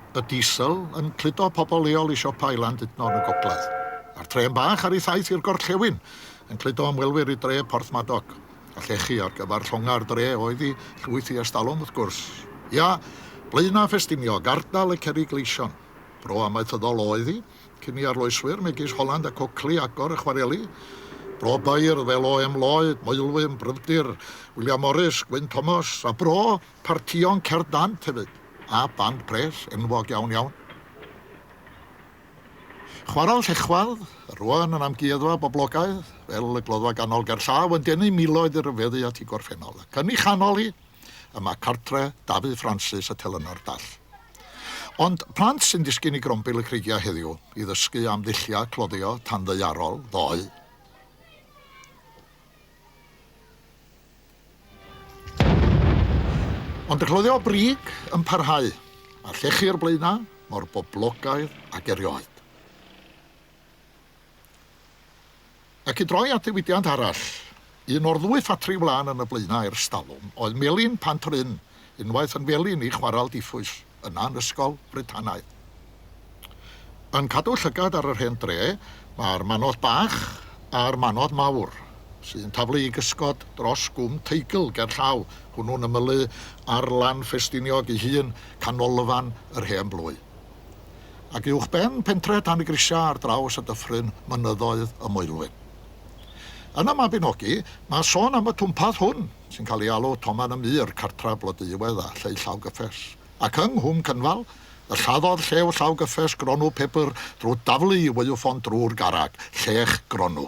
Y Diesel yn cludo pobl leol i siopau Landudno yn y gogledd, a'r Trên Bach ar ei thaith i'r gorllewin yn cludo ymwelwyr i dre Porthmadog. A llechi ar gyfer llongau'r dre oedd i llwyth i erstalwm, wrth gwrs. Ia, Blaenau Ffestiniog, ardal y Cerrig Gleision. Bro amaethyddol oedd hi, cyn i arloeswyr megis Holland ac Oakley agor y chwareli. Bro beirdd fel OM Lloyd, Maelwyn, Bryfdir, William Morris, Gwyn Thomas, a bro Partïon cerdd dant hefyd, a band pres enwog iawn iawn. Chwaraeon llechwedd, rwan yn amgueddfa boblogaidd, fel y Gloddfa Ganol gerllaw, yn denu miloedd i ryfeddu at ei gorffennol, ac yn ei chanol hi, y mae cartre Dafydd Francis y telynor dall. Ond plant sy'n disgyn i grombil y creigiau heddiw, i ddysgu am ddulliau cloddio tanddaearol ddoe, Ond y cloddio brig yn parhau, a llechi'r blaenau mor boblogaidd ag erioed. Ac i droi at ddiwydiant arall, un o'r ddwy ffatri wlân yn y blaenau irstalwm oedd Melin Pant-yr-ynn, unwaith yn felin i chwarel diffwys, yna yn ysgol Britanaidd. Yn cadw llygad ar yr hen dre, mae'r Manodd Bach a'r Manodd Mawr, sy'n taflu i gysgod dros Gwm Teigl gerllaw, hwnnw'n ymylu ar lan Ffestiniog ei hun, canolfan yr hen blwy. Ac uwchben pentre Tan-y-grisiau ar draws y dyffryn, mynyddoedd y Moelwyn. Yn y Mabinogi, mae sôn am y twmpath hwn, sy'n cael ei alw Toman y Mur, cartref Blodeuo Iwedd a Lleu Llaw Gyffes, ac yng Nghwm Cynfal, y lladdodd Lleu Llaw Gyffes gronw pupur drwy daflu i waywffon drwy'r garreg, llech gronw.